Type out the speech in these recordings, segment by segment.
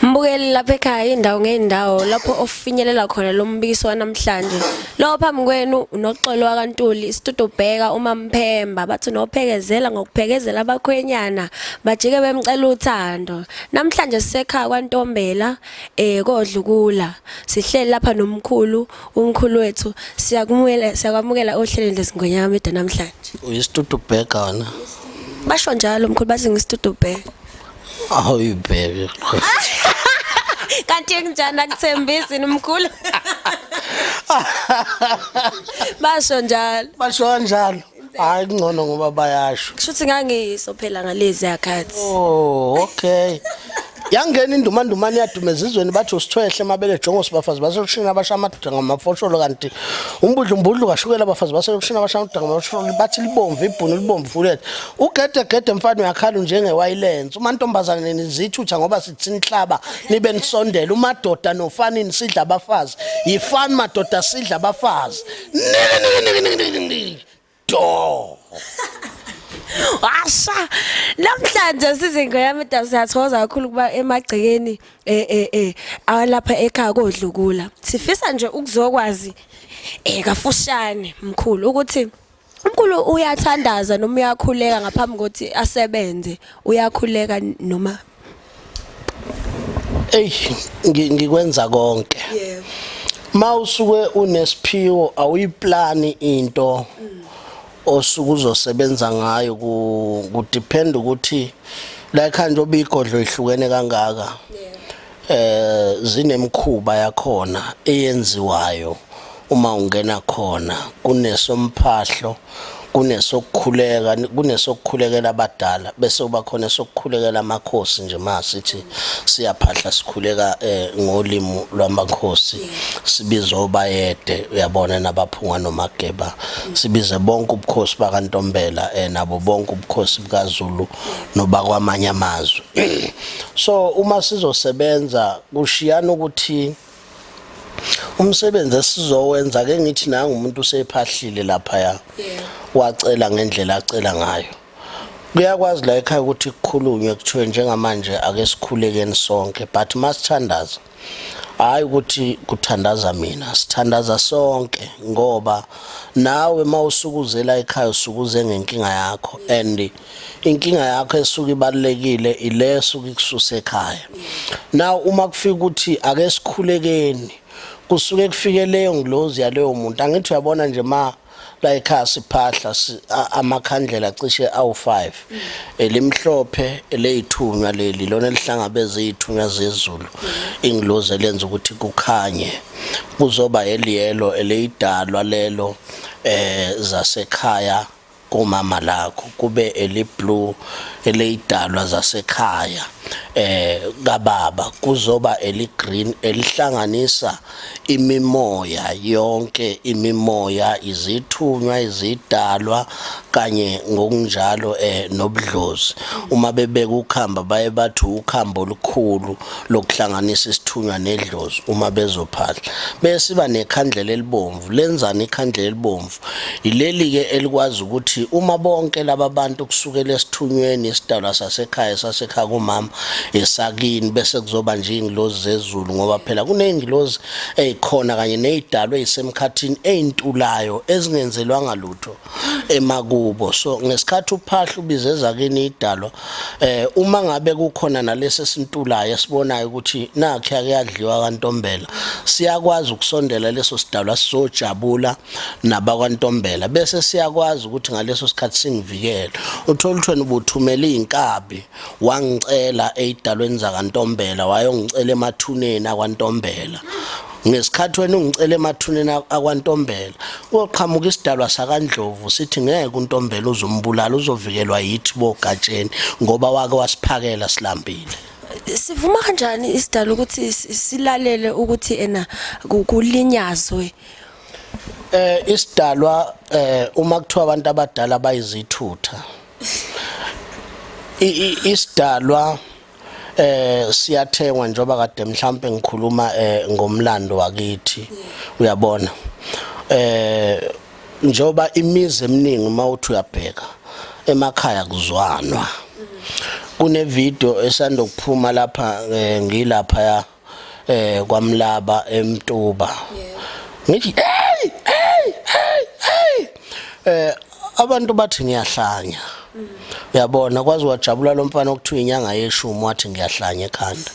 Mbukeli lapha ekhaya indawo ngeendawo lapho ofinyelela khona lo mbikiso wanamhlanje. Lo phambi kwenu unoxolo wakantuli isitudo bheka uma mphemba bathi nophekezela ngokuphekezela abakhwenyana bajike bemcela uthando. Namhlanje sisekhaya kwantombela eh kodlukula. Sihleli lapha nomkhulu umkhulu wethu siyakumukela siyakwamukela ohlelweni lesingonyama media namhlanje. Uyisitudu bheka wena. Basho njalo mkhulu bathi ngisitudo bheka. awuyibheke kanti kunjani akuthembisi nomkhulu basho njalo basho kanjalo hayi kungcono ngoba bayasho kusho ukuthi ngangiyiso phela ngalezi yakhathi oh okay yangena indumandumane yadume ezizweni bathi usithwehle mabele jongo sibafazi baselushini abasha amadoda ngamafosholo kanti umbudlumbudlu kashukela abafazi baselushini abasha amadoda ngamafosholo bathi libomvu ibhunu libomvu fulethe Ugedegede mfana uyakhala njengewayilensi umantombazane nizithutha ngoba sithi nihlaba nibe nisondela umadoda nofani nisidla abafazi yifani madoda sidla abafazi do washa namhlanje sizingo yami da siyathokoza kakhulu ukuba emagcekeni eh eh eh awalapha ekhaya kodlukula sifisa nje ukuzokwazi eh kafushane mkhulu ukuthi Umkhulu uyathandaza noma uyakhuleka ngaphambi kokuthi asebenze uyakhuleka noma Ey ngikwenza konke. Yebo. Ma usuke unesiphiwo awuyiplani into osuke uzosebenza ngayo ku ku depend ukuthi la ekhanda obigodlo ihlukene kangaka. Yebo. eh zinemkhuba yakhona eyenziwayo uma ungena khona kunesomphahlo kunesokukhuleka kunesokukhulekela abadala bese uba khona sokukhulekela amakhosi nje masithi siyaphahla sikhuleka eh, ngolimi lwamakhosi sibiza obayede uyabona nabaphunga nomageba sibize bonke ubukhosi bakantombela eh, nabo bonke ubukhosi bukaZulu nobakwamanye amazwe so uma sizosebenza kushiyana ukuthi umsebenzi esizowenza ke ngithi nangu umuntu usephahlile lapha ya wacela ngendlela acela ngayo kuyakwazi la ekhaya ukuthi kukhulunywe kuthiwe njengamanje ake sikhulekeni sonke but masithandaza hayi ukuthi kuthandaza mina sithandaza sonke ngoba nawe mawusukuzela ekhaya usukuze ngenkinga yakho and inkinga yakho esuke ibalekile ileso ukususa ekhaya now uma kufika ukuthi ake sikhulekeni kusuke kufike leyo ngilozi yaleyo muntu angithi uyabona nje ma layikhaya siphahla amakhandlela cishe awu-5 elimhlophe eleyithunywa leli lona elihlangabeza iyithunywa zezulu ingilozi elenza ukuthi kukhanye kuzoba eliyelo eleyidalwa lelo eh zasekhaya kumama lakho kube eliblue eleyidalwa zasekhaya eh kababa kuzoba eligreen elihlanganisa imimoya yonke imimoya izithunywa izidalwa kanye ngokunjalo eh nobudlozi uma bebeka ukhamba baye bathi ukhamba olukhulu lokuhlanganisa isithunywa nedlozi uma bezophahla bese iba nekhandlela elibomvu lenzani ikhandlela elibomvu Yileli-ke elikwazi ukuthi uma bonke laba bantu kusukela esithunyweni isidalwa sasekhaya sasekhaya kumama esakini bese kuzoba nje iy'ngilozi zezulu ngoba phela kuney'ngilozi ey'khona kanye ney'dalwa ey'semkhathini ey'ntulayo ezingenzelwanga lutho emakubo so ngesikhathi uphahla ubize ezakini idalwa eh uma ngabe kukhona nalesi esintulayo esibonayo ukuthi nakhe akuyadliwa kantombela siyakwazi ukusondela leso sidalwa sizojabula nabakwantombela bese siyakwazi ukuthi ngaleso sikhathi singivikele utholuthweni ubuthumela izinkabi wangicela eidalweni zakantombela wayongicela emathuneni akwantombela ngesikhathi wena ungicela emathuneni akwantombela koqhamuka isidalwa sakandlovu sithi ngeke untombela uzombulala uzovikelwa yithi bogatsheni ngoba wake wasiphakela silambile sivuma kanjani isidala ukuthi silalele ukuthi ena kulinyazwe eh isidalwa eh uma kuthiwa abantu abadala bayizithutha isidalwa eh siyathengwa njoba kade mhlambe ngikhuluma eh, ngomlando wakithi uyabona eh njoba imizi eminingi uma uthi uyabheka emakhaya kuzwanwa kune video esanda kuphuma lapha eh, ngilapha ya eh kwaMlaba eMtuba ngithi hey hey hey hey eh abantu bathi ngiyahlanya uyabona kwazi wajabula lo mfana okuthiwa inyanga yeshumi wathi ngiyahlanya ekhanda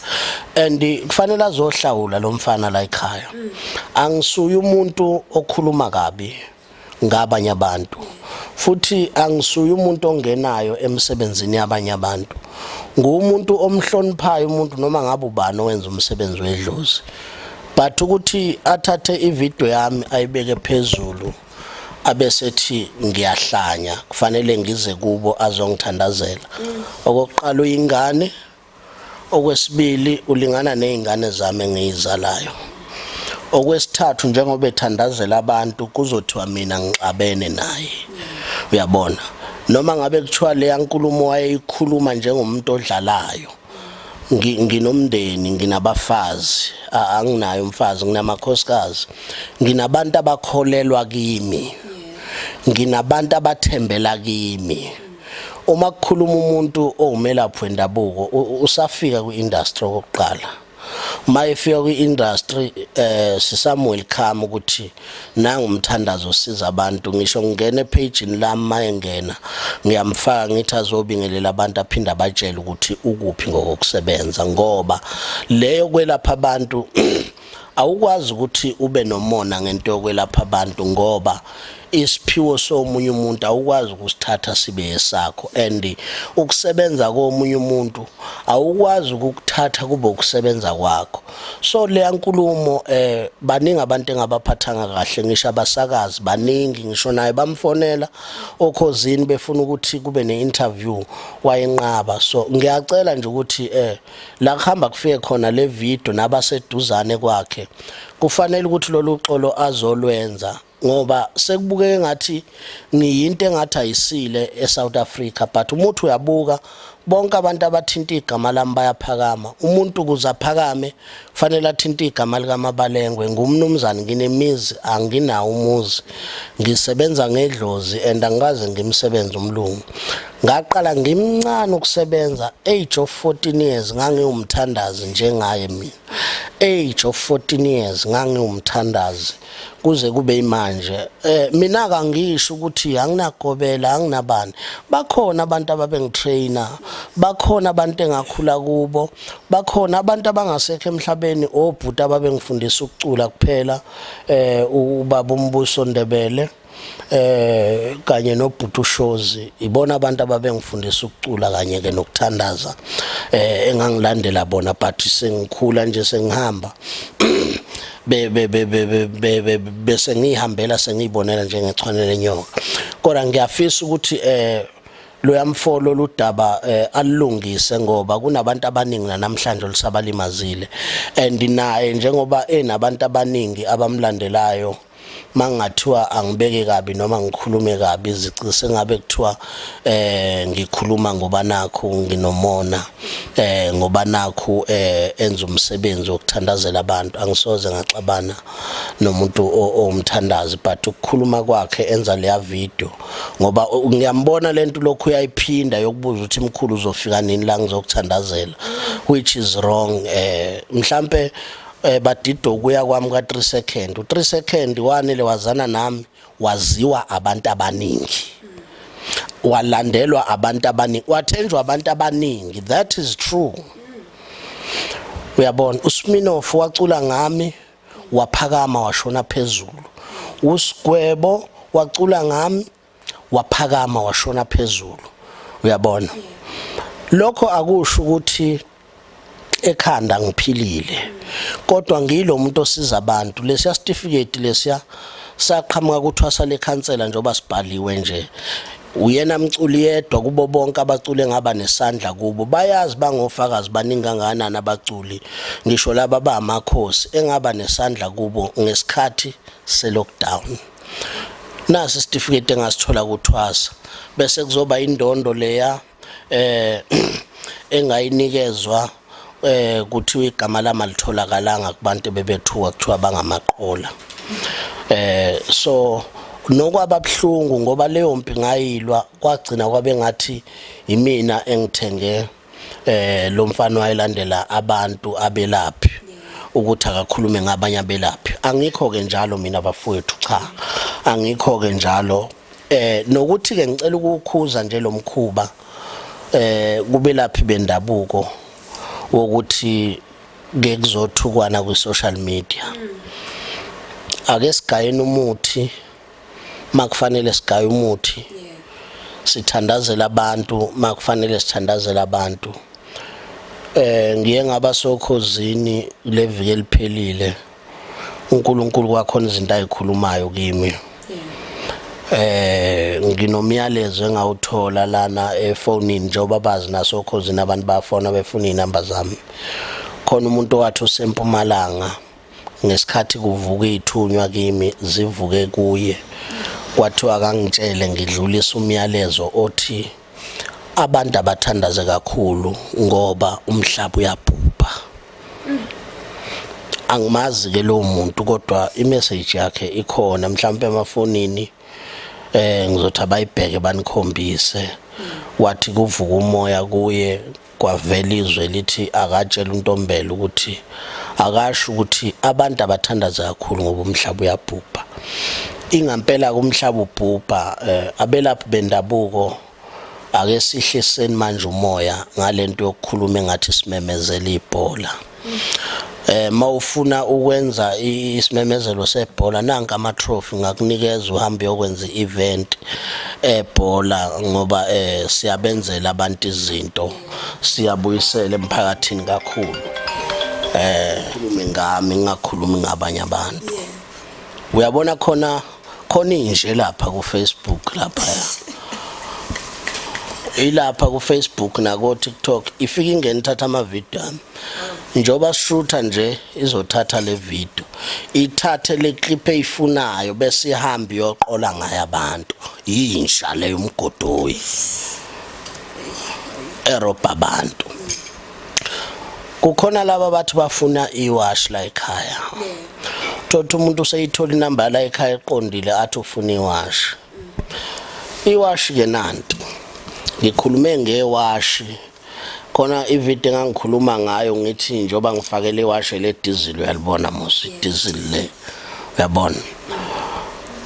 and kufanele azohlawula lo mfana la ekhaya angisuye umuntu okhuluma kabi ngabanye abantu futhi angisuye umuntu ongenayo emsebenzini yabanye abantu ngumuntu omhloniphayo umuntu noma ngabe ubani owenza umsebenzi wedlozi but ukuthi athathe ivideo yami ayibeke phezulu abesethi ngiyahlanya kufanele ngize kubo azongithandazela okokuqala uyingane okwesibili ulingana nezingane zami engiyizalayo okwesithathu njengoba ethandazela abantu kuzothiwa mina ngixabene naye uyabona noma ngabe kuthiwa leya nkulumo wayeyikhuluma njengomuntu odlalayo nginomndeni nginabafazi anginayo umfazi nginamakhosikazi nginabantu abakholelwa kimi nginabantu abathembela kimi uma kukhuluma umuntu owumelaphi wendabuko usafika kwi-industry okokuqala uma efika kwi-industry eh sisamwelcome ukuthi nangumthandazo osiza abantu ngisho ngingena ephejini lami mayengena ngiyamfaka ngithi azobingelela abantu aphinde abatshele ukuthi ukuphi ngokusebenza ngoba leyo kwelapha abantu Awukwazi ukuthi ube nomona ngento yokwelapha abantu ngoba isiphiwo somunye umuntu awukwazi ukusithatha sibe esakho and ukusebenza komunye umuntu awukwazi ukukuthatha kube ukusebenza kwakho so leya nkulumo eh baningi abantu engabaphathanga kahle ngisho abasakazi baningi ngisho naye bamfonela okhozini befuna ukuthi kube neinterview wayenqaba so ngiyacela nje ukuthi eh la kuhamba kufike khona le video nabaseduzane kwakhe kufanele ukuthi lolu xolo azolwenza ngoba sekubukeke ngathi ngiyinto engathi ayisile eSouth Africa but umuthi uyabuka bonke abantu abathinta igama lami bayaphakama umuntu kuze aphakame fanele athinte igama likamabalengwe ngumnumzane nginemizi anginawo umuzi ngisebenza ngedlozi and angikaze ngimsebenze umlungu ngaqala ngimncane ukusebenza age of 14 years ngangiwumthandazi njengaye mina age of 14 years ngangiwumthandazi kuze kube imanje eh mina kangisho ukuthi anginagobela anginabani bakhona abantu ababengitrainer bakhona abantu engakhula kubo bakhona abantu abangasekho emhlabeni obhuti ababengifundisa ukucula kuphela eh ubaba umbuso ndebele eh kanye nobhuti ushozi ibona abantu ababengifundisa ukucula kanye ke nokuthandaza eh engangilandela bona but sengikhula nje sengihamba be be be be bese ngihambela sengiyibonela njengechwane lenyoka kodwa ngiyafisa ukuthi eh loyamfolo ludaba eh, alungise ngoba kunabantu abaningi namhlanje olusabalimazile and naye njengoba enabantu abaningi abamlandelayo mangathiwa angibeke kabi noma ngikhulume kabi izici sengabe kuthiwa eh ngikhuluma ngoba nakho nginomona eh ngoba nakho eh enza umsebenzi wokuthandazela abantu angisoze ngaxabana nomuntu owumthandazi but ukukhuluma kwakhe enza leya video ngoba ngiyambona lento lokhu uyayiphinda yokubuza ukuthi mkhulu uzofika nini la ngizokuthandazela which is wrong eh mhlambe eh badida ukuya kwami ka 3 second u 3 second wanele wazana nami waziwa abantu abaningi walandelwa abantu abaningi wathenjwa abantu abaningi that is true uyabona uSminoff wacula ngami waphakama washona phezulu uSgwebo wacula ngami waphakama washona phezulu uyabona lokho akusho ukuthi ekhanda ngiphilile kodwa ngilo muntu osiza abantu lesiya certificate lesiya saqhamuka kuthwasa lekhansela njengoba sibhaliwe nje uyena mculi yedwa kubo bonke abacule ngaba nesandla kubo bayazi bangofakazi baningi kangakanani abaculi ngisho laba bamakhosi engaba nesandla kubo ngesikhathi selockdown nasi isitifiketi engasithola kuthwasa bese kuzoba indondo leya eh engayinikezwa eh kuthiwa igama lama litholakalanga kubantu bebethuka kuthiwa bangamaqola eh so nokwababhlungu ngoba leyo mpi ngayilwa kwagcina kwabe ngathi yimina engithenge eh lo mfana wayelandela abantu abelaphi ukuthi akakhulume ngabanye abelaphi angikho ke njalo mina bafowethu cha angikho ke njalo eh nokuthi ke ngicela ukukhuza nje lo mkhuba eh kubelaphi bendabuko wokuthi ke kuzothukwana kwi social media ake sigayeni umuthi makufanele sigaye umuthi sithandazela abantu makufanele sithandazela abantu eh ngiye ngaba sokhozini leviki eliphelile uNkulunkulu kwakhona izinto ayikhulumayo kimi eh nginomyalezo engawuthola lana efonini njengoba bazi nasokhozini abantu bafona befuna inamba zami khona umuntu owathi usempumalanga ngesikhathi kuvuka ithunywa kimi zivuke kuye kwathiwa akangitshele ngidlulisa umyalezo othi abantu abathandaze kakhulu ngoba umhlaba uyabhubha angimazi ke lowo muntu kodwa imessage yakhe ikhona mhlawumbe emafonini eh ngizothi abayibheke banikhombise wathi kuvuka umoya kuye Kwavela izwi elithi akatshele uNtombela ukuthi akasho ukuthi abantu abathandaze kakhulu ngoba umhlaba uyabhubha. Ingampela-ke umhlaba ubhubha, eh, abelaphi bendabuko ake sihliseni manje umoya ngale nto yokukhuluma engathi simemezela ibhola. eh mawufuna ukwenza isimemezelo sebhola nanka ama trophy ngakunikeza uhambe yokwenza event ebhola eh, ngoba eh siyabenzela abantu izinto siyabuyisela emphakathini kakhulu eh ngami ngakhulumi ngabanye abantu uyabona khona khona inje lapha ku Facebook lapha ilapha ku Facebook nako TikTok ifika ingena ithatha ama video ami njoba shutha nje izothatha le video ithathe le clip eyifunayo bese ihamba iyoqola ngayo abantu yinja leyo umgodoyi erobha abantu kukhona laba bathi bafuna iwash la ekhaya thothi umuntu useyithola inamba la ekhaya eqondile athi ufuna iwash iwash ke nanti ngikhulume ngewashi khona ivideo engangikhuluma ngayo ngithi njoba ngifakele iwashe le diesel uyalibona musi diesel le uyabona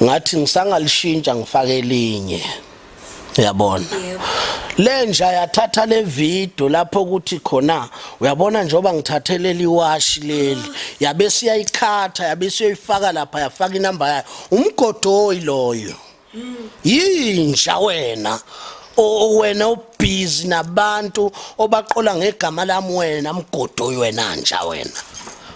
ngathi ngisangalishintsha ngifake elinye uyabona lenja yathatha le video lapho kuthi khona uyabona njengoba ngithathelela iwashi leli yabe siyayikhatha yabe siyoyifaka lapha yafaka inamba yayo umgodoyi loyo yinja wena wena ubhizi nabantu obaqola ngegama lami wena mgodoyi wena nja wena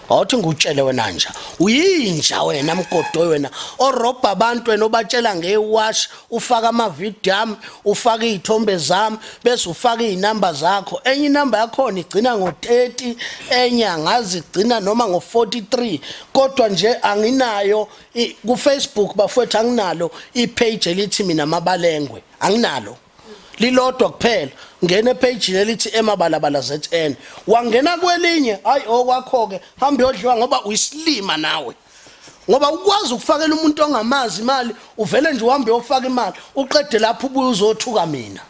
awuthi ngutshele wena nja uyinja wena mgodoyi wena orobha abantu wena obatshela ngewash ufaka amavidiyo ami ufaka iy'thombe zami bese ufaka iy'namba zakho enye inamba yakhona igcina ngo-30 enye angazi igcina noma ngo-43 kodwa nje anginayo kufacebook bafowethu anginalo ipage elithi mina mabalengwe anginalo lilodwa kuphela ngena ephejini elithi emabalabala zn wangena kwelinye hayi okwakho-ke hambe yodliwa ngoba uyisilima nawe ngoba ukwazi ukufakela umuntu ongamazi imali uvele nje uhambe uyofaka imali uqede lapho ubuye uzothuka mina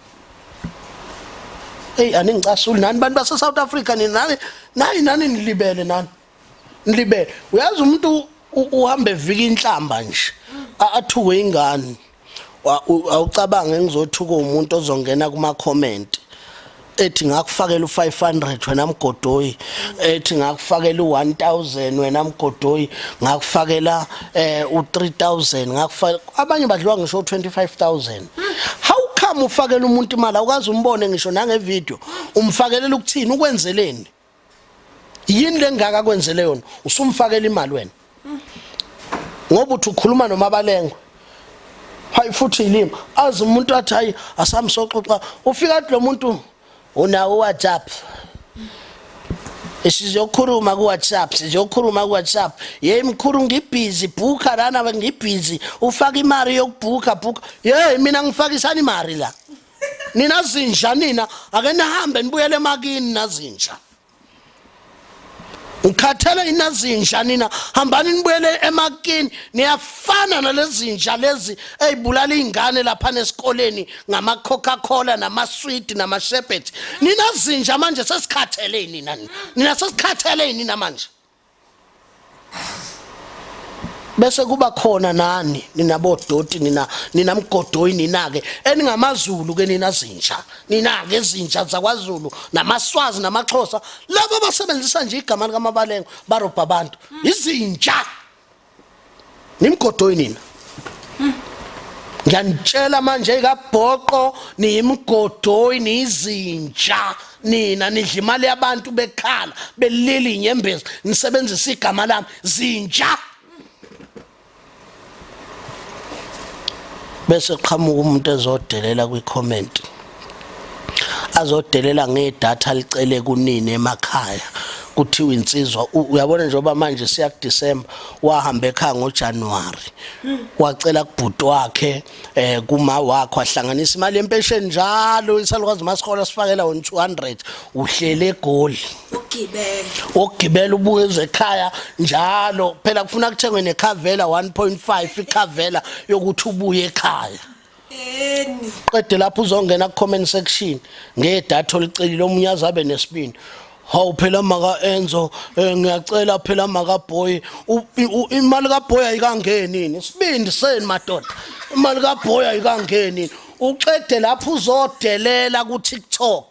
eyi aningicasuli nani bantu base-south africa nini nani nayi nani nilibele nani nilibele uyazi umuntu uhamba evika inhlamba nje athuke ingane awucabange ngizothuka umuntu ozongena kuma comment ethi ngakufakela u500 wena mgodoyi ethi ngakufakela u1000 wena mgodoyi ngakufakela eh u3000 ngakufakela abanye badliwa ngisho u25000 how come ufakela umuntu imali awukazi umbone ngisho nange video umfakelela ukuthini ukwenzeleni yini lengaka kwenzele yona usumfakela imali wena ngoba uthi ukhuluma nomabalengwe hayi futhi ilimi azi umuntu athi hayi asamsoxoxa ufika athi lo muntu unawo whatsapp sizokhuluma kuwhatsapp sizokhuluma kuwhatsapp yeyi mkhulu ngibhizi bhukha lana ngibhizi ufaka imali yokubhukha bhukha yeyi mina ngifakisani imali la nina zinja nina ake nihambe nibuyele emakini nazinja ukhathele inazinja nina hambani nibuyele emakini niyafana nalezinja lezi ezibulala izingane lapha nesikoleni ngama Coca Cola nama sweet nama sherbet nina zinja manje sesikhathele nina nina sesikhathele nina manje bese kuba khona nani nina bodoti nina nina mgodoyi nina ke eningamaZulu ke nina zinja nina ke zinja zakwaZulu namaswazi namaXhosa laba basebenzisa nje igama likaMabalengo barobha abantu izinja nimgodoyi nina ngiyanitshela manje ikabhoqo niyimgodoyi niyizinja nina nidla imali yabantu bekhala belili inyembezi nisebenzisa igama lami zinja bese qhamuka umuntu ezodelela kwi-comment azodelela ngedatha licele kunini emakhaya kuthiwa insizwa uyabona njengoba manje siya kuDecember wahamba ekhaya ngoJanuary wacela kubhuti wakhe eh kuma wakho ahlanganisa imali yempesheni njalo isalukwazi masikhola sifakela wona 200 uhlele egoli ukugibela ukugibela ubuye ezekhaya njalo phela kufuna kuthengwe nekhavela 1.5 ikhavela yokuthi ubuye ekhaya eni qede lapho uzongena ku comment section ngedatha olicelile omunye azabe nesibindi hawu phela maka enzo eh, ngiyacela phela maka boy imali ka boy ayikangeni isibindi seni madoda imali ka boy ayikangeni uqede lapho uzodelela ku TikTok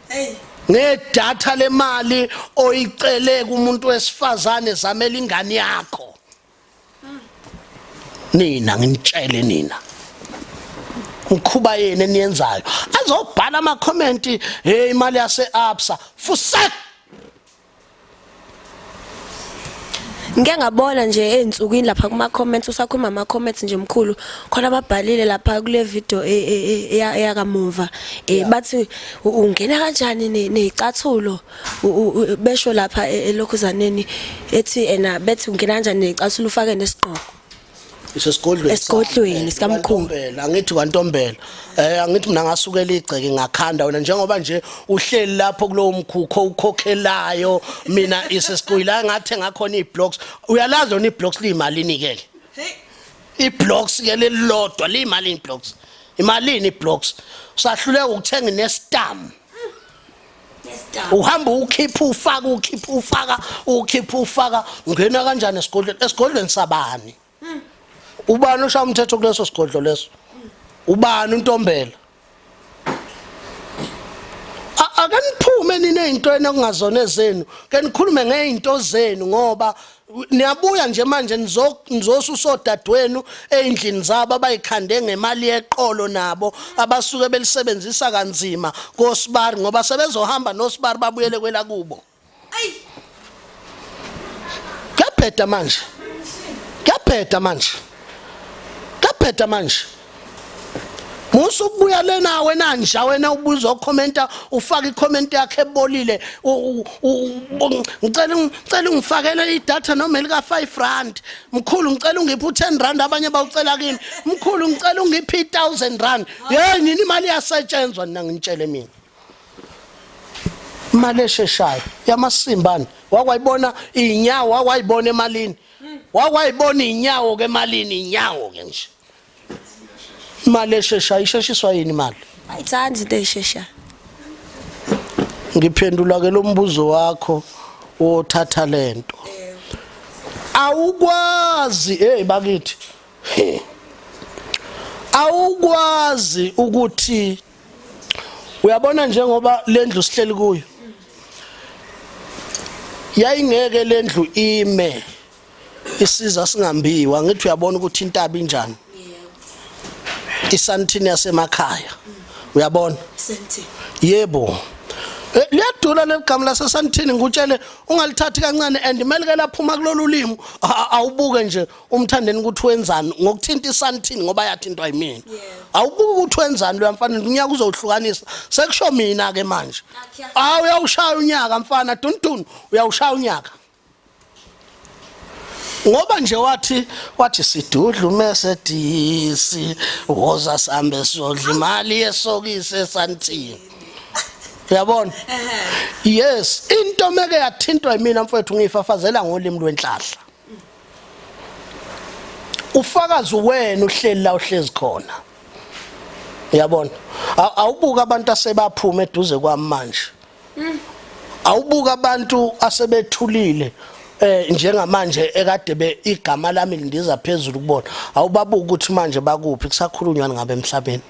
hey ngedatha lemali oyicele kumuntu wesifazane zamela ingane yakho nina nginitshele nina ngikhuba yini eniyenzayo azobhala ama comment hey imali yase absa fusak ngike ngabona nje ezinsukwini lapha kuma comments usakhuluma ama comments nje mkhulu khona ababhalile lapha kule video e, e, e, eyakamumva eh, bathi ungena kanjani nezicathulo besho lapha e, elokhuzaneni ethi ena bethi ungena kanjani necasula ufake nesigqoko isesigodlweni esigodlweni sikamkhulu angithi kwantombela eh angithi mina ngasukela igceke ngakhanda wena njengoba nje uhleli lapho kulowo mkhukho ukhokhelayo mina isesigodla ngathe ngakhona iblocks uyalazi lona iblocks liyimalini ke iblocks ke lelilodwa liyimalini iblocks imalini iblocks usahluleka ukuthenga nestamp uhamba ukhipha ufaka ukhipha ufaka ukhipha ufaka ungena kanjani esigodlweni esigodlweni sabani hmm. ubani oshaya umthetho kuleso sigodlo leso ubani untombela akaniphume nine ezintweni okungazona ezenu ke nikhulume ngey'nto zenu ngoba niyabuya nje manje nizosusa sodadwenu ey'ndlini zabo abayikhande ngemali yeqolo nabo abasuke belisebenzisa kanzima kosibari ngoba sebezohamba nosibari babuyele kwelakubo kuyabheda manje kuyabheda manje kuyabheda manje Musa ukubuya lena wena nja wena ubuza ukhomenta ufaka icomment yakhe ebolile ngicela ngicela ungifakele idata noma elika 5 rand mkhulu ngicela ungiphe u10 rand abanye bawucela kimi mkhulu ngicela ungiphe 1000 rand hey nini imali yasetshenzwa nina ngintshele mina imali esheshayo yamasimbani wakwayibona inyawo wakwayibona emalini wakwayibona inyawo ke emalini inyawo ke nje imali esheshayo isheshiswa yini imali ayithandi into eyisheshayo ngiphendula ke lo mbuzo wakho wothatha lento awukwazi hey bakithi awukwazi ukuthi uyabona njengoba lendlu sihleli kuyo yayingeke lendlu ime isiza singambiwa ngithi uyabona ukuthi intaba injani isantini yasemakhaya uyabona yebo Eh, liyadula leligama lasesantini ngikutshele ungalithathi kancane and kumele ke laphuma kulolu limi awubuke nje umthandeni ukuthi wenzani ngokuthinta isantini ngoba yathintwa yimina awubuke ukuthi wenzani loya mfana unyaka uzohlukanisa sekusho mina ke manje awu uyawushaya unyaka mfana duntun uyawushaya unyaka ngoba nje wathi wathi sidudlu mese disi woza sambe sodla imali yesokise santini uyabona yes into meke yathintwa yimina mfowethu ngiyifafazela ngolimi lwenhlahla ufakazi wena uhleli la uhlezi khona uyabona awubuka abantu asebaphuma eduze kwami manje awubuka abantu asebethulile eh njengamanje ekade be igama lami lindiza phezulu kubona awubabuka ukuthi manje bakuphi kusakhulunywa ngabe emhlabeni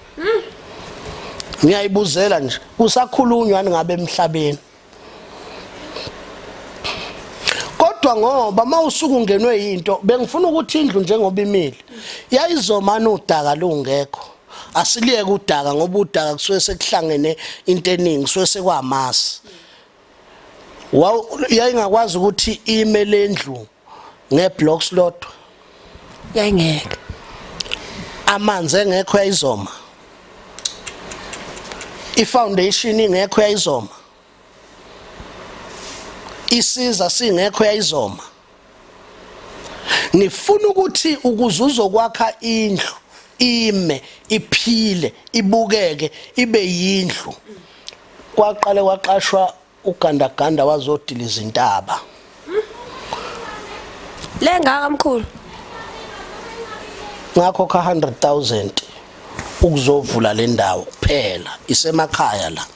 ngiyayibuzela nje kusakhulunywa ngabe emhlabeni kodwa ngoba mawusuku ngenwe into bengifuna ukuthi indlu njengoba imile yayizomana udaka lungekho asiliyeke udaka ngoba udaka kusuke sekuhlangene into eningi kusuke sekwamasi yayingakwazi ukuthi ime le ndlu ngeblocks lodwa yayingeke amanzi engekho yayizoma ifoundation ingekho yayizoma isiza singekho yayizoma ngifuna ukuthi ukuze uzokwakha indlu ime iphile ibukeke ibe yindlu kwaqale kwaqashwa ugandaganda wazodila izintaba lengaka mkhulu ngakho ka 100000 ukuzovula le ndawo kuphela isemakhaya la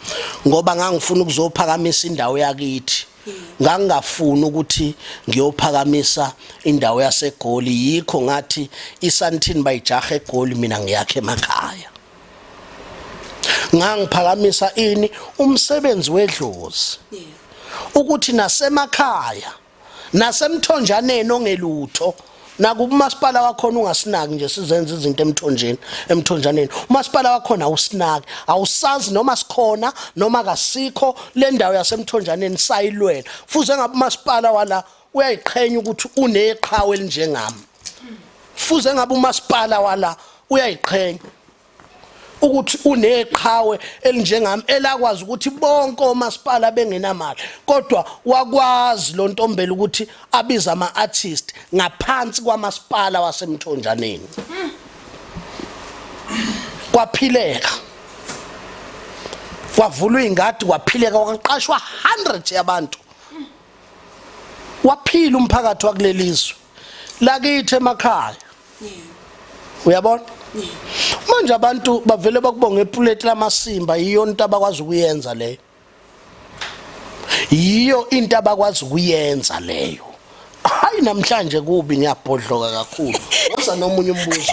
ngoba ngangifuna ukuzophakamisa indawo yakithi ngangingafuni ukuthi ngiyophakamisa indawo yasegoli yikho ngathi isantini bayijaha egoli mina ngiyakhe emakhaya ngangiphakamisa ini umsebenzi wedlozi ukuthi nasemakhaya nasemthonjaneni ongelutho nakuba umasipala wakhona ungasinaki nje sizenza izinto emthonjeni emthonjaneni umasipala wakhona awusinaki awusazi noma sikhona noma kasikho le ndawo yasemthonjaneni sayilwela fuze ngabe umasipala wala uyayiqhenya ukuthi uneqhawe elinjengami fuze ngabe umasipala wala uyayiqhenya ukuthi uneqhawe elinjengami elakwazi ukuthi bonke omasipala bengenamali kodwa wakwazi lo ntombela ukuthi abize ama-artist ngaphansi kwamasipala wasemthonjaneni kwaphileka kwavulwa iy'ngadi kwaphileka kwaqashwa 100 yabantu waphila umphakathi wakulelizwe lakithi emakhaya uyabona manje abantu bavele bakubonga epuleti lamasimba yiyo into abakwazi ukuyenza leyo yiyo into abakwazi ukuyenza leyo hayi namhlanje kubi ngiyabhodloka kakhulu woza nomunye umbuzo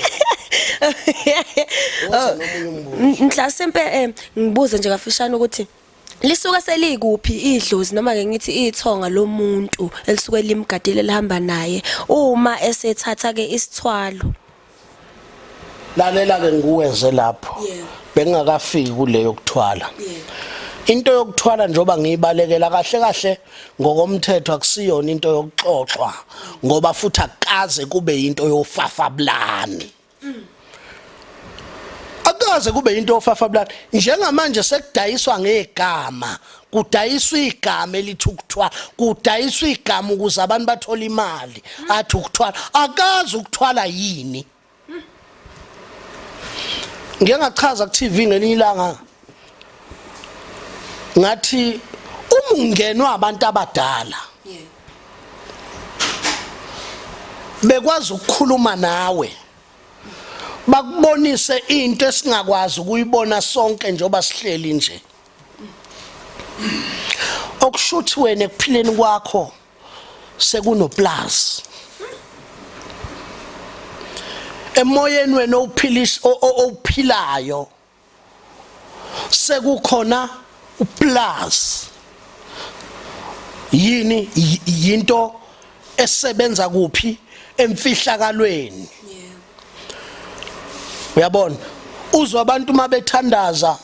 mhlasimpe um ngibuze nje kafishane ukuthi lisuke selikuphi idlozi noma ke ngithi ithonga lomuntu elisuke limgadile lihamba naye uma esethatha ke isithwalo lalela ke nguweze lapho bengingakafiki kule yokuthwala into yokuthwala njoba ngiyibalekela kahle kahle ngokomthetho akusiyona into yokuxoxwa ngoba futhi akukaze kube into yofafablani akukaze kube into ofafa blood njengamanje sekudayiswa ngegama kudayiswa igama elithi ukuthwala kudayiswa igama ukuze abantu bathole imali athi ukuthwala akazi ukuthwala yini ngeke ngachaza ku TV ngelinye ilanga ngathi uma ungenwa abantu abadala bekwazi ukukhuluma nawe bakubonise into esingakwazi ukuyibona sonke njengoba sihleli nje okushuthi wena ekuphileni kwakho sekunoplus emoyeni wena ophilis ophilayo sekukhona uplus yini yinto esebenza kuphi emfihlakalweni uyabona uzwa abantu mabethandaza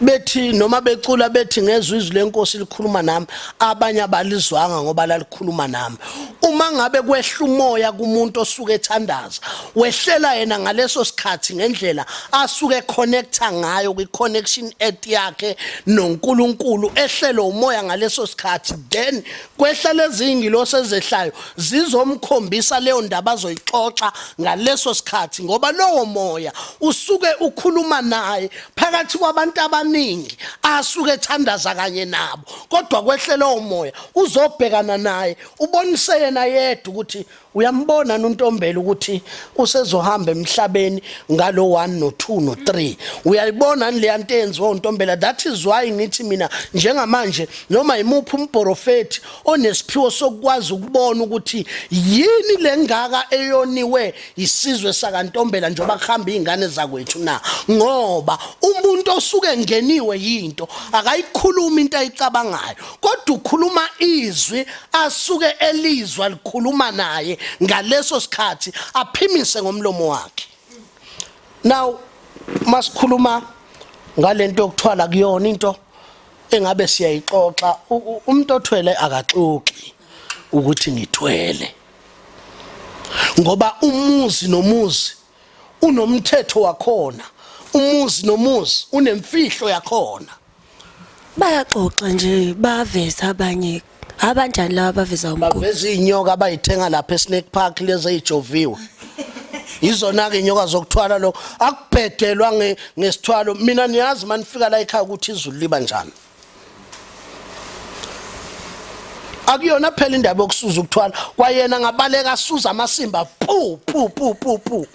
bethi noma becula bethi ngezwe izwi lenkosi likhuluma nami abanye abalizwanga ngoba lalikhuluma nami uma ngabe kwehla umoya kumuntu osuke ethandaza wehlela yena ngaleso sikhathi ngendlela asuke connecta ngayo kwi-connection et yakhe nonkulunkulu ehlele umoya ngaleso sikhathi then kwehla lezingilosi ezehlayo zizomkhombisa leyo ndaba azoyixoxa ngaleso sikhathi ngoba lowo moya usuke ukhuluma naye phakathi kwabantu abaningi asuke ethandaza kanye nabo kodwa kwehlela umoya uzobhekana naye ubonise yena yedwa ukuthi uyambona nontombela ukuthi usezohamba emhlabeni ngalo 1 no 2 no 3 uyayibona nileya nto enziwa untombela that is why ngithi mina njengamanje noma yimuphi umporofeti onesiphiwo sokukwazi ukubona ukuthi yini lengaka eyoniwe isizwe sakantombela njengoba kuhamba izingane zakwethu na ngoba umuntu osuke ngeniwe yinto akayikhulumi into ayicabangayo kodwa ukhuluma izwi asuke elizwa likhuluma naye ngaleso sikhathi aphimise ngomlomo wakhe now masikhuluma ngalento yokuthwala kuyona into engabe siyayixoxa umuntu othwele akaxoxi ukuthi ngithwele ngoba umuzi nomuzi unomthetho wakhona umuzi nomuzi unemfihlo yakhona bayaxoxa nje baveza abanye abanjani laba baveza umkhulu baveza inyoka abayithenga lapha eSnake Park lezi ezijoviwe izona ke inyoka zokuthwala lo akubhedelwa nge ngesithwalo mina niyazi manifika la ekhaya ukuthi izulu liba njani akuyona phela indaba yokusuza ukuthwala kwayena ngabaleka asuza amasimba pu pu pu pu pu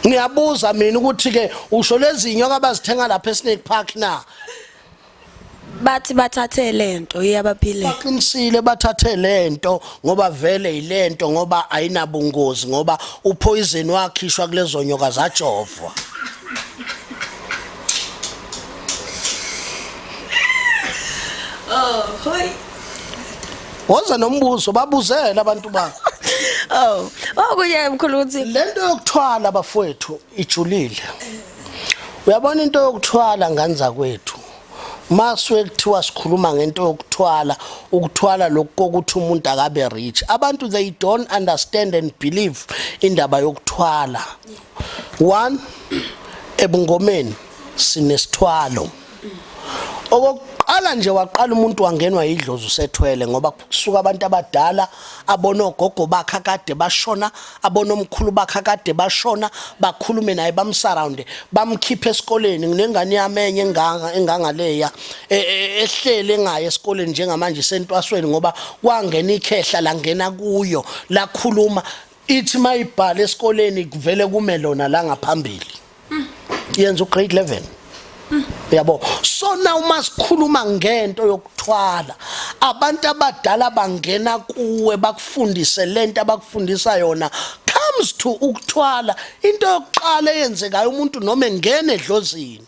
ngiyabuza mina ukuthi ke usho lezinyo kabazithenga lapha eSnake Park na bathi bathathe lento iyabaphile baqinisile bathathe lento ngoba vele yilento ngoba ayinabungozi ngoba upoison wakhishwa kulezo nyoka zajovwa Oh, hoi. Woza nombuzo babuzela abantu bakho. Oh, okuye mkhulu uthi lento yokuthwala bafowethu ijulile. Uyabona into yokuthwala ngane zakwethu. Maswe kuthiwa sikhuluma ngento yokuthwala, ukuthwala lokho kokuthi umuntu akabe rich. Abantu they don't understand and believe indaba yokuthwala. One ebungomeni sinesithwalo. okokuqala nje waqala umuntu wangenwa yidlozi usethwele ngoba kusuka abantu abadala abona ogogo bakhe kade bashona abona omkhulu bakhe kade bashona bakhulume naye bamsurround bamkhiphe esikoleni nginengane yami enye enganga engangaleya e, e, ehlele ngaye esikoleni njengamanje sentwasweni ngoba kwangena ikhehla langena kuyo lakhuluma ithi mayibhala esikoleni kuvele kume lona la ngaphambili yenza ugrade 11 uyabo so na uma sikhuluma ngento yokuthwala abantu abadala bangena kuwe bakufundise lento abakufundisa yona comes to ukuthwala into yokuqala eyenzekayo umuntu noma engena edlozini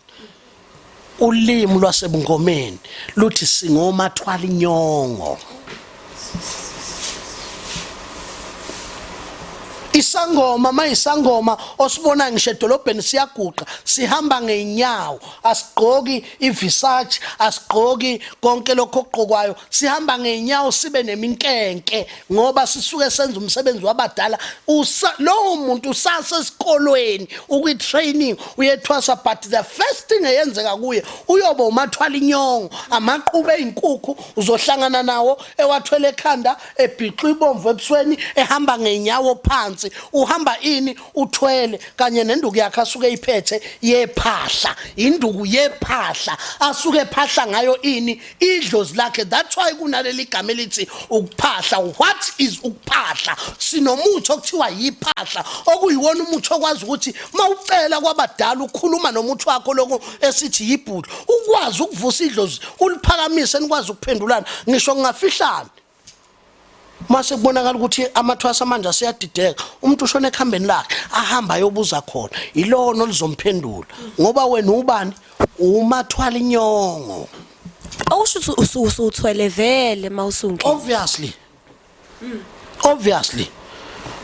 Ulimi lwasebungomeni luthi singomathwala inyongo. isangoma mayisangoma osibona ngisho edolobheni siyaguqa sihamba ngeenyawo asigqoki ivisace asigqoki konke lokho okugqokwayo sihamba ngeenyawo sibe neminkenke ngoba sisuke senza umsebenzi wabadala lowo muntu usase esikolweni ukwi-training uyethwasa but the first thing eyenzeka kuye uyobe umathwala inyongo amaqube ey'nkukhu uzohlangana nawo ewathwele ekhanda ebhixwa ibomvu ebusweni ehamba ngey'nyawo phansi uhamba ini uthwele kanye nenduku yakhe asuke eyiphethe yephahla induku yephahla asuke ephahla ngayo ini idlozi lakhe that's why kunaleli gama elithi ukuphahla what is ukuphahla sinomuthi okuthiwa yiphahla okuyiwona umuthi okwazi ukuthi mawucela kwabadala ukukhuluma nomuthi wakho lokho esithi yibhudu ukwazi ukuvusa idlozi uliphakamise nikwazi ukuphendulana ngisho ngingafihlana mase kubonakala ukuthi amathwasa amanje aseyadideka umuntu ushona ekhambeni lakhe ahamba ayobuza khona ilona olizomphendula ngoba wena ubani umathwala inyongo awusho ukuthi usuthwele vele mawusunke obviously obviously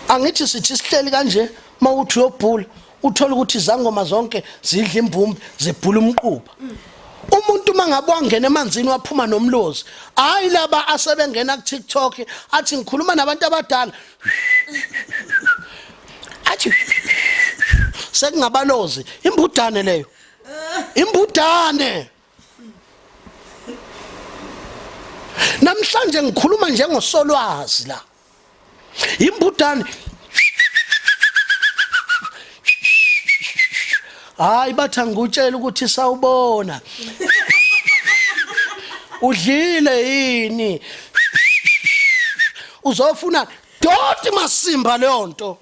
angithi sithi sihleli kanje mawuthi uyobhula uthole ukuthi izangoma zonke zidla imbumbi zibhula umquba umuntu uma ngabe wangena emanzini waphuma nomlozi hayi laba asebengena ku-tiktok athi ngikhuluma nabantu abadala athi sekungabalozi imbudane leyo imbudane namhlanje ngikhuluma njengosolwazi la imbudane hayi bathi angikutshela ukuthi sawubona udlile yini uzofuna doti masimba leyo nto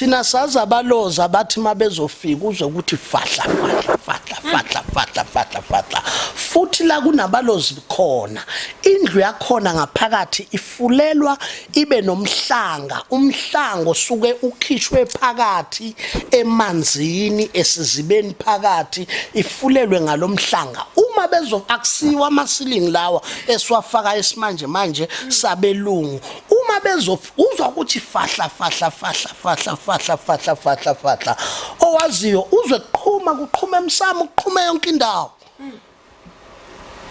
thina sazi abaloza bathi uma bezofika uze ukuthi fahla fahla fahla fahla fahla fahla fahla futhi la kunabalozi khona indlu yakhona ngaphakathi ifulelwa ibe nomhlanga umhlango suke ukhishwe phakathi emanzini esizibeni phakathi ifulelwe ngalomhlanga uma bezo akusiwa amasilingi lawa esiwafaka esimanje manje sabelungu uma bezof uzwa ukuthi fahla fahla fahla fahla fahla fahla fahla fahla owaziyo uzwe kuqhuma kuqhuma emsamo kuqhuma yonke indawo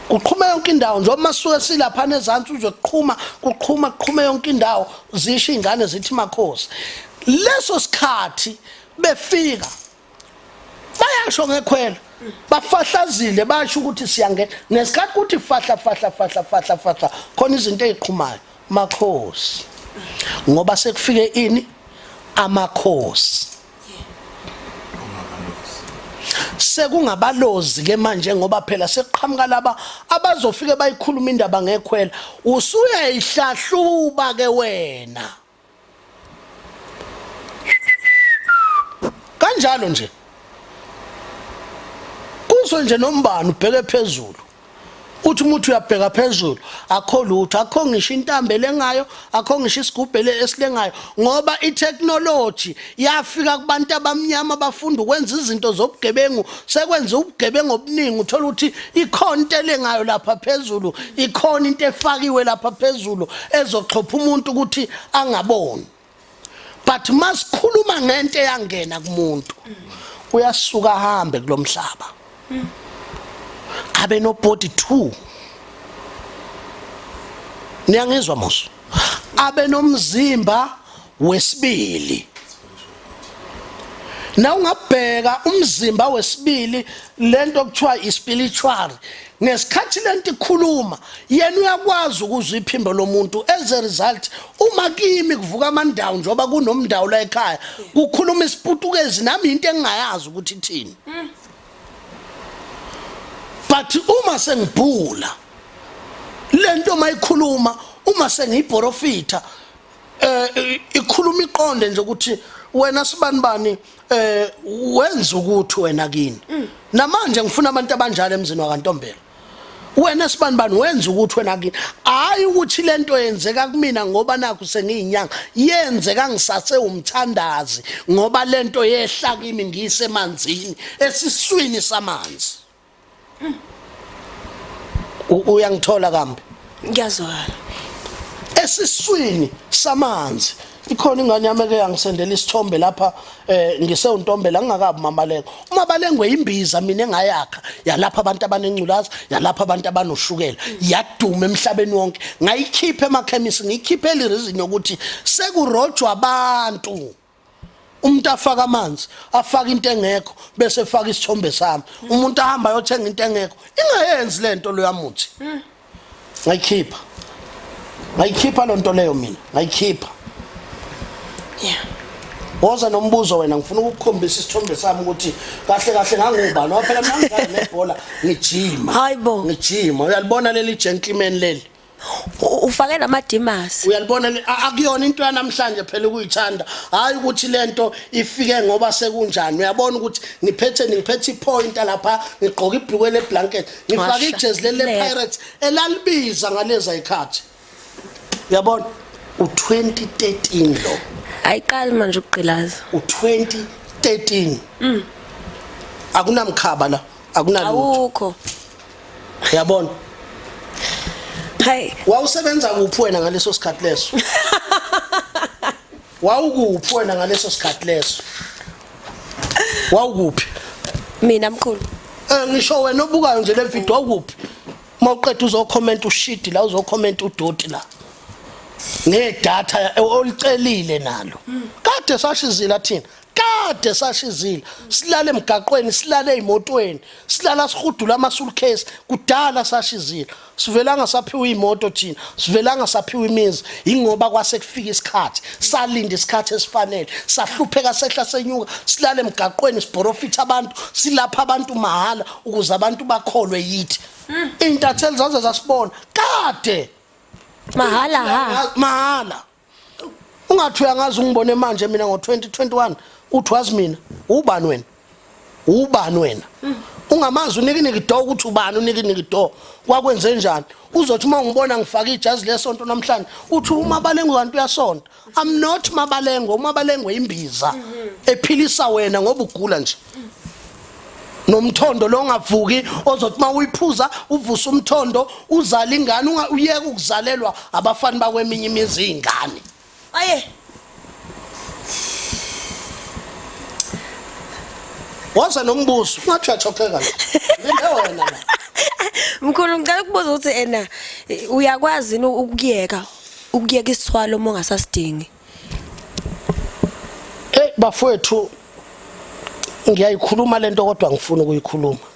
kuqhuma yonke indawo njengoba masuke silapha nezantsi uzwe kuqhuma kuqhuma kuqhuma yonke indawo zisho izingane zithi makhosi leso sikhathi befika bayasho ngekhwela bafahlazile basho ukuthi siyangena nesikhathi kuthi fahla fahla fahla fahla fahla khona izinto eziqhumayo makhosi ngoba sekufike ini amakhosi sekungabalozi ke manje ngoba phela sekuqhamuka laba abazofike bayikhuluma indaba ngekhwela usuyayihlahluba ke wena kanjalo nje kuso nje nombani ubheke phezulu uthi umuntu uyabheka phezulu akho lutho akho ngisho intambele ngayo akho ngisho isigubhele esilengayo ngoba itechnology yafika kubantu abamnyama bafunda ukwenza izinto zobugebengu sekwenza ubugebengu obuningi uthola ukuthi ikhona into elengayo lapha phezulu ikhona into efakiwe lapha phezulu ezoxhopha umuntu ukuthi angaboni but masikhuluma ngento eyangena kumuntu uyasuka ahambe kulomhlaba abe no body 2 niyangizwa musu abe nomzimba wesibili na ungabheka umzimba wesibili lento okuthiwa ispiritual ngesikhathi lento ikhuluma yena uyakwazi ukuzwa iphimbo lomuntu as a result uma kimi kuvuka amandawo njengoba kunomndawo la ekhaya kukhuluma isiputukezi nami into engingayazi ukuthi ithini but uma sengibhula lento mayikhuluma uma sengiyiporofitha eh ikhuluma iqonde nje ukuthi wena sibani bani eh wenza ukuthi wena kini mm. namanje ngifuna abantu abanjalo emzini wakantombela wena sibani bani wenza ukuthi wena kini hayi ukuthi lento yenzeka kumina ngoba nakho sengiyinyanga yenzeka ngisase umthandazi ngoba lento yehla kimi ngisemanzini esiswini samanzi uyangithola kambi ngiyazwakala esiswini samanzi ikhona ingane yami eke yangisendela isithombe lapha eh ngisewuntombela ngingakabi mamaleko umabalengwe imbiza mina engayakha yalapha abantu abanenculaza yalapha abantu abanoshukela yaduma emhlabeni wonke ngayikhipha emakhemisi ngiyikhiphe elirizini yokuthi sekurojwa abantu umuntu afaka amanzi afaka into engekho bese efaka isithombe sami umuntu ahamba ayothenga into engekho ingayenzi lento lo yamuthi ngayikhipha ngayikhipha lo nto leyo mina ngayikhipha yeah woza nombuzo wena ngifuna ukukhombisa isithombe sami ukuthi kahle kahle ngangubani waphela mina ngidlala nebhola ngijima hayibo ngijima uyalibona leli gentleman leli U- ufake namadimasi uyalibona le- a- akuyona into yanamhlanje phela ukuyithanda hayi ukuthi lento ifike ngoba sekunjani uyabona ukuthi ngiphethe ngiphethe ipointa lapha ngigqoke ibhlukwe leblanket ngifake Washa. ijezi leli Le. lepirates elalibiza ngaleza ikhathi uyabona u-2013 lo ayiqali manje ukugqilaza u-2013 akunamkhaba la akunalutho awukho uyabona Hey. Wawusebenza kuphi wena ngaleso sikhathi leso? Wawukuphi wena ngaleso sikhathi leso? Wawukuphi? Mina mkhulu. Eh ngisho wena obukayo nje le video wawukuphi? Mawuqeda uzokhomenta ushidi la uzokhomenta udoti la. Ngedata olicelile nalo. Kade sashizila thina. kade sashizile silale emgaqweni silale ezimotweni silala sihudula ama suitcase kudala sashizile sivelanga saphiwa imoto thina sivelanga saphiwa imizi ingoba kwase kufika isikhathi salinda isikhathi esifanele sahlupheka sehla senyuka silale emgaqweni siborofitha abantu silapha abantu mahala ukuze abantu bakholwe yithi hmm. intatheli zaze zasibona kade mahala ha mahala ungathi uyangazi ungibone manje mina ngo-2021 uthi wazi mina ubani wena ubani wena ungamazi unikiniki do ukuthi ubani unikiniki do kwakwenze njani uzothi uma ungibona ngifake ijazi lesonto namhlanje uthi umabalengwe kanti uyasonta i'm not mabalengwe umabalengwe imbiza ephilisa wena ngoba ugula nje nomthondo lo ongavuki ozothi uma uyiphuza uvusa umthondo uzala ingane uyeke ukuzalelwa abafani bakweminye imizi iy'ngane aye waza nombuzo ungathi uyathokeka linde wena la mkhulu ngicela ukubuza ukuthi ena uyakwazi yini ukuyeka ukuyeka isithwalo uma ungasasidingi Hey bafowethu ngiyayikhuluma lento kodwa ngifuna ukuyikhuluma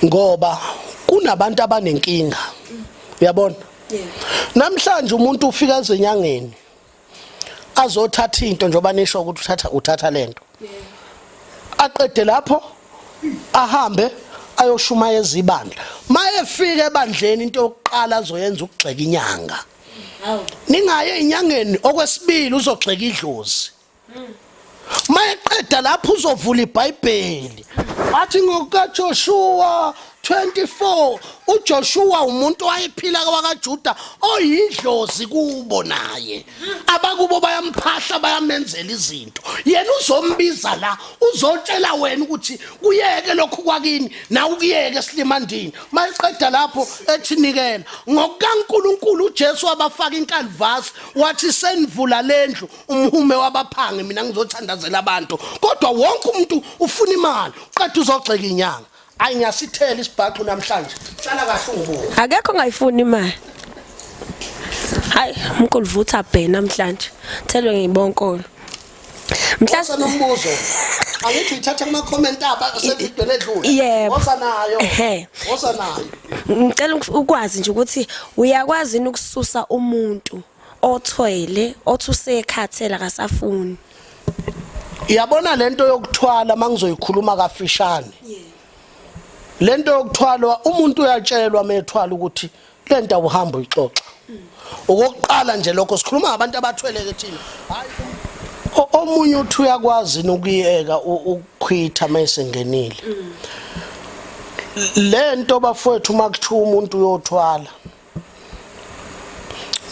ngoba kunabantu abanenkinga uyabona namhlanje umuntu ufika ezenyangeni azothatha into njengoba nisho ukuthi uthatha uthatha lento aqede lapho ahambe ayoshumayeza ibandla mayefika ebandleni into yokuqala azoyenza ukugxeka inyanga ningaye inyangeni okwesibili uzogxeka idlozi mayeqeda lapho uzovula ibhayibheli athi ngokajoshuwa 24 uJoshua umuntu wayephila kwakaJuda oyidlozi kubo naye abakubo bayamphahla bayamenzela izinto yena uzombiza la uzotshela wena ukuthi kuyeke lokhu kwakini na ukuyeke silimandini mayiqeda lapho ethi nikela ngokukaNkuluNkulu uJesu wabafaka inkalvasi wathi senivula lendlu umhume wabaphangi mina ngizothandazela abantu kodwa wonke umuntu ufuna imali uqeda uzogxeka inyanga ayi ngiyasithela isibhaxu namhlanje hlala kahle ungibuke akekho ongayifuni imali hayi umkulu vutha bhe namhlanje thelwe ngibonkolo mhlawumbe nombuzo angithi uyithatha kuma comment aba sevidweni edlule yebo osanayo ehe osanayo ngicela ukwazi nje ukuthi uyakwazi ukususa umuntu othwele othi usekhathela kasafuni yabona lento yokuthwala mangizoyikhuluma kafishane lento yokuthwalwa umuntu uyatshelwa methwala ukuthi lento awuhambi uyixoxa okokuqala nje lokho sikhuluma ngabantu abathweleke thina hayi omunye uthi uyakwazi nokuyeka ukukhwitha mayisengenile lento bafowethu makuthiwa umuntu uyothwala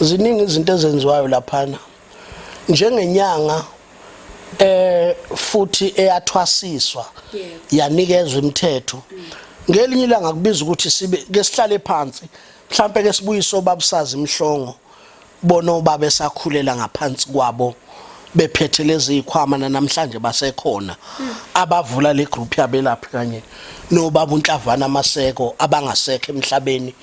ziningi izinto ezenziwayo laphana njengenyanga eh futhi eyathwasiswa yanikezwa imithetho ngelinye ilanga kubiza ukuthi sibe ke sihlale phansi mhlambe ke sibuyise obabusazi imhlongo bona obaba esakhulela ngaphansi kwabo bephethe lezi ikhwama namhlanje basekhona abavula le group yabelaphi kanye nobaba uNhlavana Maseko abangasekho emhlabeni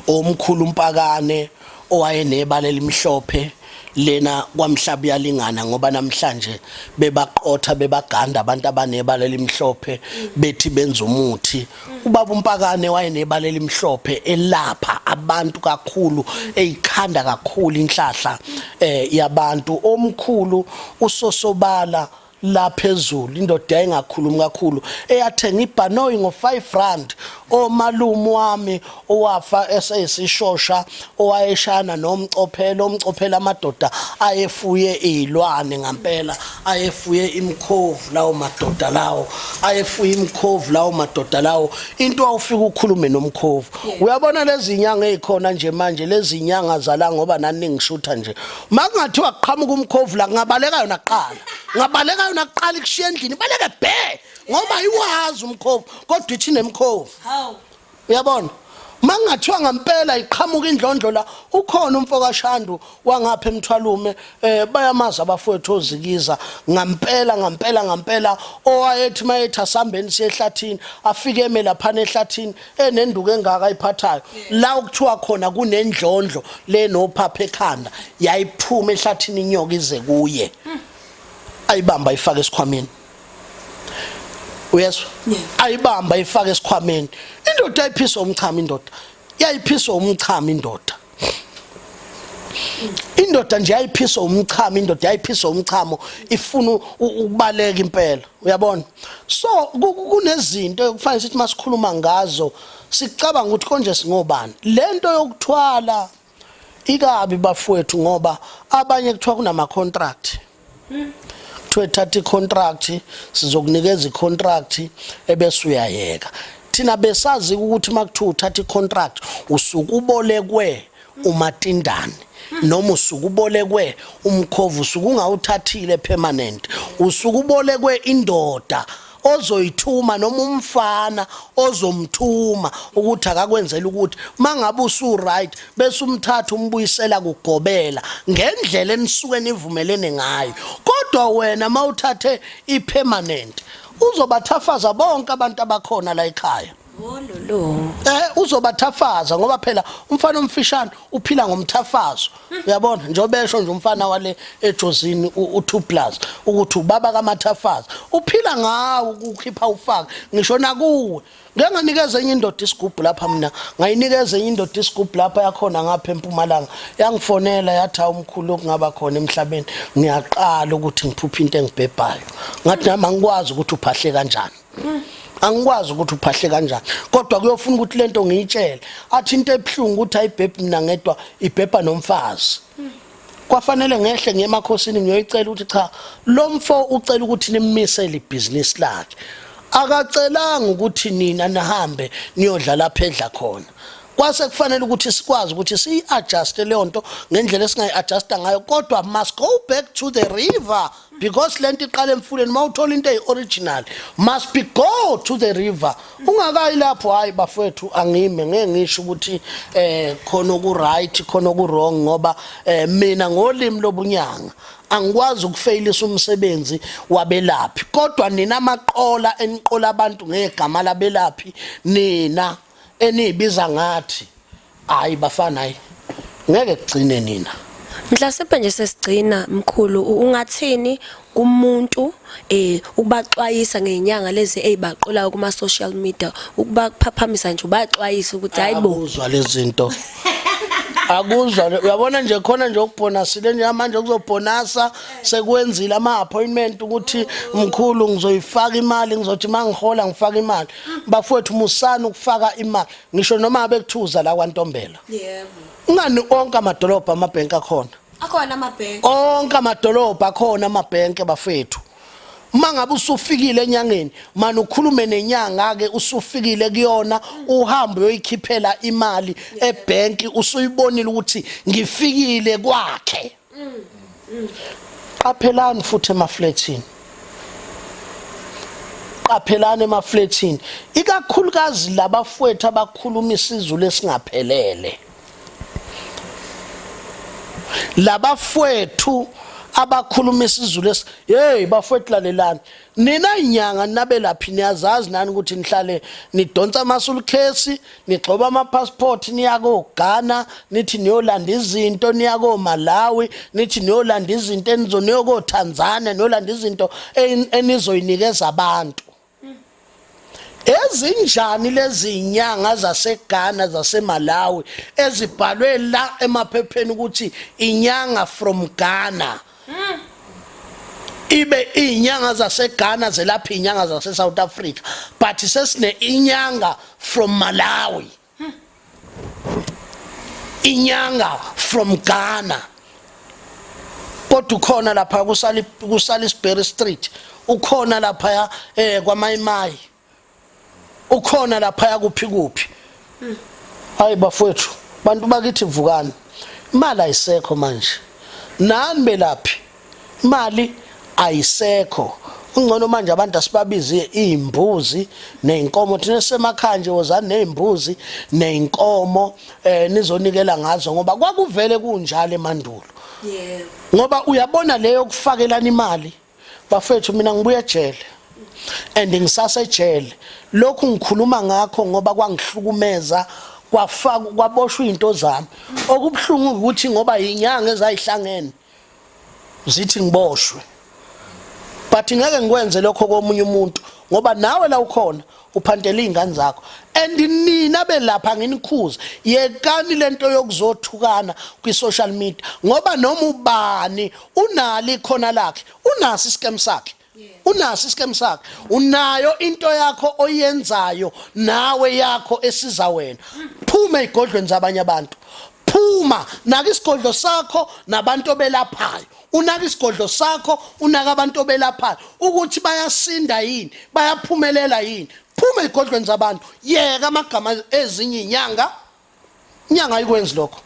omkhulu umpakane owayenebala elimhlophe Lena kwamhlaba iyalingana ngoba namhlanje bebaqotha bebaganda abantu abanebala elimhlophe bethi benza umuthi ubaba umpakane wayenebala elimhlophe elapha abantu kakhulu eyikhanda kakhulu inhlahla eh yabantu omkhulu usosobala la phezulu indoda yayingakhulumi kakhulu eyathenga ibhanoyi ngo-5 rand omalume wami owafa eseyisishosha owayeshayana nomcophelo umcophela amadoda ayefuye iy'lwane ngampela ayefuye imikhovu lawo madoda lawo ayefuye imikhovu lawo madoda lawo into awufika ukhulume nomkhovu uyabona lezi nyanga ey'khona nje manje lezi nyanga zala ngoba naningishutha nje makungathiwa kuqhamuka umkhovu la kungabaleka yona kuqala ngabaleka yona kuqala ikushiya endlini ibaleke bhe ngoba ayiwazi umkhovu kodwa ithi nemkhovu uyabona mangathiwa ngempela iqhamuka indlondlo la ukhona umfo kaShandu wangapha emthwalume eh bayamaza abafowethu ozikiza ngempela ngempela ngempela owayethi mayethi asambeni siyehlathini afike eme lapha nehlathini enenduku engaka ayiphathayo la okuthiwa khona kunendlondlo lenophapha ekhanda yayiphuma ehlathini inyoka ize kuye ayibamba ifake esikhwameni uyezwa ayibamba ifake esikhwameni indoda ayiphiswa umchamo indoda yayiphiswa umchamo indoda indoda nje yayiphiswa umchamo indoda yayiphiswa umchamo ifuna ukubaleka impela uyabona so kunezinto ekufanele sithi masikhuluma ngazo sicabanga ukuthi konje singobani lento yokuthwala ikabi bafowethu ngoba abanye kuthiwa kunama contract kuthiwe thatha icontract sizokunikeza icontract ebese uyayeka thina besazi ukuthi makuthiwa uthatha icontract usuke ubolekwe umatindane noma usuke ubolekwe umkhovu usuke ungawuthathile permanent usuke ubolekwe indoda ozoyithuma noma umfana ozomthuma ukuthi akakwenzela ukuthi mangabe usu right bese umthatha umbuyisela kugobela ngendlela enisuke nivumelene ngayo kodwa wena mawuthathe ipermanent uzobathafaza bonke abantu abakhona la ekhaya Wololo. Eh uzobathafaza ngoba phela umfana omfishane uphila ngomthafazo. Uyabona njengoba esho nje umfana wale ejozini u2 plus ukuthi ubaba kamathafaza uphila ngawo ukukhipha ufaka ngisho nakuwe. Ngeke nganikeza enye indoda isigubhu lapha mina ngayinikeza enye indoda isigubhu lapha yakhona ngapha empumalanga yangifonela yathi awumkhulu okungaba khona emhlabeni ngiyaqala ukuthi ngiphuphe into engibhebhayo ngathi nami angikwazi ukuthi uphahle kanjani angikwazi ukuthi uphahle kanjani kodwa kuyofuna ukuthi lento ngiyitshele athi into ebuhlungu ukuthi ayibhebhi mina ngedwa ibhebha nomfazi kwafanele ngehle ngiye emakhosini ngiyoyicela ukuthi cha lo mfo ucela ukuthi nimmisele ibhizinisi lakhe akacelanga ukuthi nina nihambe niyodla lapha edla khona kwase kufanele ukuthi sikwazi ukuthi siyi-adjuste leyo nto ngendlela esingayi-adjusta ngayo kodwa must go back to the river because lento iqala emfuleni uma uthola into eyi-original must be go to the river ungakayi lapho hhayi bafowethu angime ngeke ngisho ukuthi um khona oku-right khona oku-wrong ngoba um mina ngolimi lobunyanga angikwazi ukufeyilisa umsebenzi wabelaphi kodwa nina amaqola eniqola abantu ngegama labelaphi nina eniyibiza ngathi hayi bafana hayi ngeke kugcine nina Mhlasimbe nje sesigcina mkhulu ungathini kumuntu eh ukubaxwayisa ngenyanga lezi ezibaqulayo kuma social media ukubaphaphamisa nje ubaxwayisa ukuthi hayibo uzwa lezinto akuzwa uyabona nje khona nje ukubhonasile nje manje kuzobhonasa sekwenzile ama appointment ukuthi mkhulu ngizoyifaka imali ngizothi mangihola ngifaka imali bafowethu musani ukufaka imali ngisho noma bekuthuza la kwantombela yebo ungani onke amadolobha amabhenki akhona akhona amabhenki onke amadolobha akhona amabhenki bafethu uma ngabe usufikile enyangeni mani ukhulume nenyanga-ke usufikile kuyona uhambe uyoyikhiphela imali ebhenki usuyibonile ukuthi ngifikile kwakhe qaphelani futhi emaflethini qaphelani emaflethini ikakhulukazi labafwethu abakhuluma isizulu esingaphelele labafwethu abakhuluma isizulu esi hey bafwethu lalelani nina inyanga ninabelaphi niyazazi nani ukuthi nihlale nidonsa amasulukhesi nigxoba amapassport niya koGhana nithi niyolanda izinto niya koMalawi nithi niyolanda izinto enizo niyo koTanzania niyolanda izinto enizoyinikeza abantu ezinjani lezi nyanga zaseGhana zaseMalawi ezibhalwe la emaphepheni ukuthi inyanga from Ghana mm. ibe izinyanga zaseGhana zelapha izinyanga zase South Africa but sesine inyanga from Malawi mm. inyanga from Ghana kodwa ukhona lapha kusali kusali Sperry Street ukhona lapha eh kwamayimayi ukhona laphaya kuphi kuphi hayi bafowethu bantu bakithi vukani imali ayisekho manje nani belaphi imali ayisekho ungcono manje abantu asibabize izimbuzi nezinkomo thina semakhaya nje wozani nezimbuzi nezinkomo eh nizonikela ngazo ngoba kwakuvele kunjalo emandulo yebo ngoba uyabona leyo kufakelana imali bafethu mina ngibuye ejele and ngisasejele lokhu ngikhuluma ngakho ngoba kwangihlukumeza kwafaka kwaboshwa izinto zami okubuhlungu ukuthi ngoba inyanga ezayihlangene zithi ngiboshwe but ngeke ngikwenze lokho komunye umuntu ngoba nawe la ukhona uphantela izingane zakho and nina belapha nginikhuza yekani lento yokuzothukana kwi social media ngoba noma ubani unali khona lakhe unasi scam sakhe unasi scam sakhe unayo into yakho oyenzayo nawe yakho esiza wena phuma igodlweni zabanye abantu phuma naka isigodlo sakho nabantu obelaphayo unaka isigodlo sakho unaka abantu obelaphayo ukuthi bayasinda yini bayaphumelela yini phuma ezigodlweni zabantu yeka amagama ezinye inyanga inyanga ayikwenzi lokho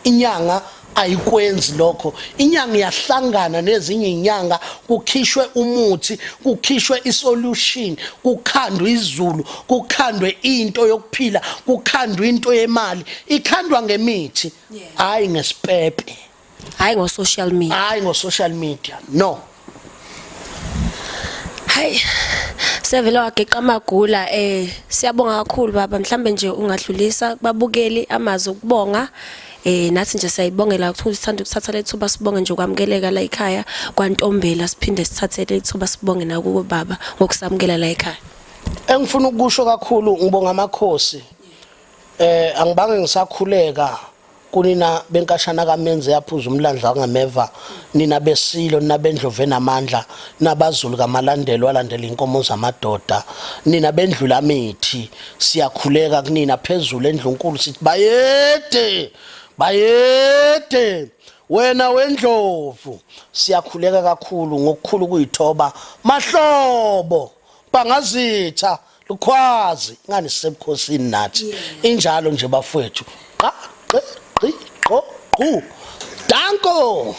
inyanga ayikwenzi lokho inyanga iyahlangana nezinye inyanga kukhishwe umuthi kukhishwe isolution kukhandwe izulu kukhandwe into yokuphila kukhandwe into yemali ikhandwa ngemithi hayi ngesipepe hayi ngo social media hayi ngo social media no hayi sevele wageqa amagula eh siyabonga kakhulu baba mhlambe nje ungadlulisa kubabukeli amazi okubonga eh nathi nje siyayibongela ukuthi sithanda ukuthatha lethuba sibonge nje kwamukeleka la ekhaya kwantombela siphinde sithathe lethuba sibonge nakubo baba ngokusamukela la ekhaya engifuna ukusho kakhulu ngibonga amakhosi eh angibange ngisakhuleka kunina benkashana kamenze yaphuza umlandla wangameva nina besilo nina bendlovu enamandla nabazulu kamalandelo alandela inkomo zamadoda nina bendlula mithi siyakhuleka kunina phezulu endlunkulu sithi bayede bayede wena wendlovu siyakhuleka kakhulu ngokukhulu kuyithoba mahlobo bangazitha Lukhwazi ngani sisebukhosini nathi. Injalo nje bafowethu. Qa qe qi qo qu. Danko.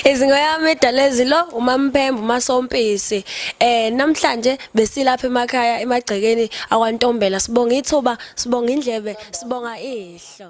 izingo yami edalezilo umampembu masompisi eh namhlanje besilapha emakhaya emagcekeni akwantombela sibonga ithuba sibonga indlebe sibonga ihlo